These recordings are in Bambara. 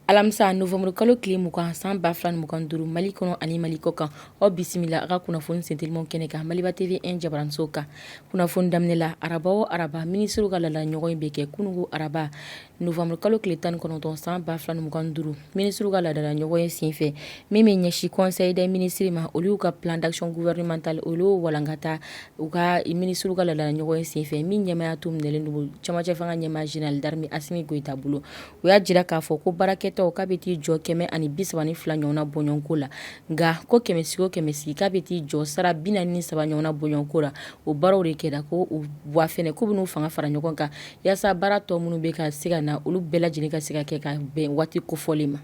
alamisa nowanburu kalo tile mugan san ba fila mugan duuru mali kɔnɔ ani mali kɔ kan aw bisimila a ka kunnafoni sentelimaw kɛnɛ kan maliba TV1 jabaraninso kan kunnafoni daminɛ la araba o araba minisiriw ka laadala ɲɔgɔnye bɛ kɛ kunungo araba Nowanburu kalo tile tan kɔnɔntɔn san ba fila mugan duuru minisiri ka laadala ɲɔgɔnye senfɛ min bɛ ɲɛsin conseil des ministres ma olu y'u ka plan d'action gouvernementale olu walankata u ka minisiri ka laadala ɲɔgɔnye senfɛ min ɲɛmaya tun minɛlen don cɛmancɛfanga ɲɛmaa Jenerali d'armee Asimi Goyita bolo u y'a jira k'a fɔ ko baarakɛta k'a bɛ t'i jɔ kɛmɛ ani bi saba ni fila ɲɔgɔnna bɔɲɔgɔnko la nka ko kɛmɛ sigi o kɛmɛ sigi k'a bɛ t'i jɔ sara bi naani ni saba ɲɔgɔnna bɔɲɔgɔnko la o baaraw de kɛra ko u bolo wa fɛnɛ k'u bɛn'u fanga fara ɲɔgɔn kan Yaasa baara tɔ minnu bɛ ka se ka na olu bɛɛ lajɛlen ka se ka kɛ ka bɛn waati kofɔlen ma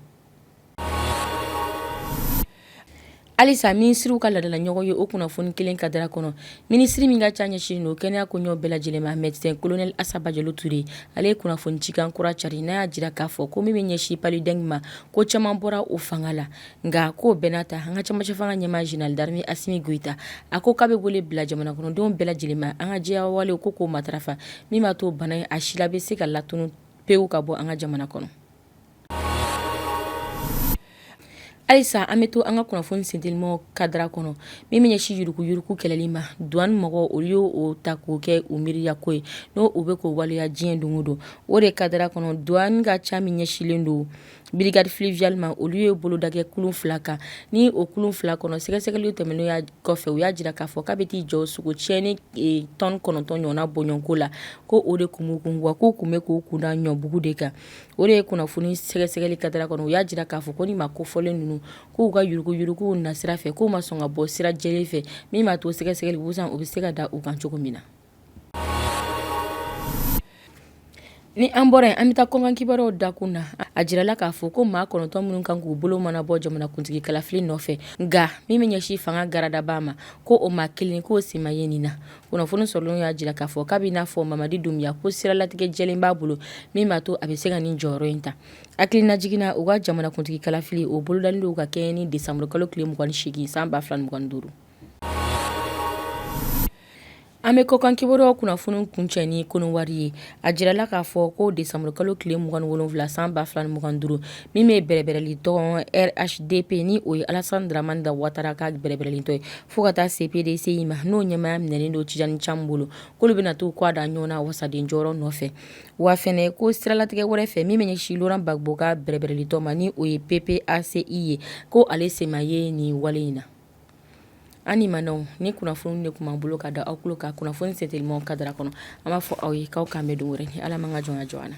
halisa minisiriw ka laadala ɲɔgɔnye o kunnafoni kelen kadira kɔnɔ minisiri min ka ca ɲɛsinnen don kɛnɛya koɲɛw bɛɛ lajɛlen ma médecin colonel Assa Badiallo Touré ale ye kunnafoni cikan kura cari n'a y'a jira k'a fɔ ko min bɛ ɲɛsin palu dengue ma ko caman bɔra o fanga la nka k'o bɛɛ n'a ta an ka cɛmancɛfanga ɲɛmaa Jenerali d'armee Asimi Goyita, a ko k'a bɛ wele bila jamanakɔnɔdenw bɛɛ lajɛlen ma, an ka jɛya walew ko k'o matarafa, min b'a to bana in a sila bɛ se ka latunu pewu ka bɔ an ka jamana kɔnɔ. Halisa an bɛ to an ka kunnafoni sentelimaw kadira kɔnɔ min bɛ ɲɛsin yuruguyurugu kɛlɛli ma duwani mɔgɔw olu ye o ta k'o kɛ u miiriya ko ye n'o u bɛ k'o waleya diɲɛ don o don o de kadira kɔnɔ duwani ka ca min ɲɛsinlen don Brigade fluviale ma olu ye bolodakɛ kulun fila kan ni o kulun fila kɔnɔ sɛgɛsɛgɛli tɛmɛnen ya kɔfɛ u y'a jira k'a fɔ k'a bɛ t'i jɔ sogo cɛnnen tɔni kɔnɔntɔn ɲɔgɔnna bɔɲɔgɔnko la ko o de tun b'u kun wa k'u tun bɛ k'u kunda ɲɔbugu de kan o de ye kunnafoni sɛgɛsɛgɛli kadira kɔnɔ u y'a jira k'a fɔ ko ni maa kofɔlen ninnu k'u ka yuruguyurugu nasira fɛ k'u ma sɔn ka bɔ sira jɛlen fɛ min b'a to sɛgɛsɛgɛli busan u bɛ se ka da u kan cogo min na Ni an bɔra yen an bɛ taa kɔkan kibaruw dakun na a jirala k'a fɔ ko maa kɔnɔntɔn minnu kan k'u bolo mana bɔ jamanakuntigi kalafili nɔfɛ nka min bɛ ɲɛsin fanga garadaba ma ko o maa kelen k'o sen ma ye nin na kunnafoni sɔrɔlenw y'a jira k'a fɔ k'a b'i n'a fɔ Mamadi Dunbuya ko siralatigɛ jɛlen b'a bolo min b'a to a bɛ se ka nin jɔyɔrɔ in ta hakililajigin na u ka jamanakuntigi kalafili o bolodalen don ka kɛɲɛ ni desanburukalo tile 28 san 2025 An bɛ kɔkan kibaruya kunnafoni kuncɛ ni Kɔnɔwari ye a jirala k'a fɔ ko desanburukalo tile 27 san 2025 min bɛ bɛrɛbɛrɛlitɔn RHDP ni o ye Alassane Dramane Watara ka bɛrɛbɛrɛlitɔn ye fo ka taa se PDCI ma n'o ɲɛmaya minɛen don Tidjane Thiam bolo k'olu bɛna t'u kɔgɔ da ɲɔgɔn na wasaden jɔyɔrɔ nɔfɛ wa fɛnɛ ko siralatigɛ wɛrɛ fɛ min bɛ ɲɛsin Laurent Gbagbo ka bɛrɛbɛrɛlitɔn ma ni o ye PPA-CI ye ko ale sen ma ye nin wale in na An ni maw nin kunnafoni de tun b'an bolo ka da aw tulo kan kunnafoni sen teliman kadara kɔnɔ an b'a fɔ aw ye k'aw k'an bɛn don wɛrɛ ni ala man ka jɔn jɔ na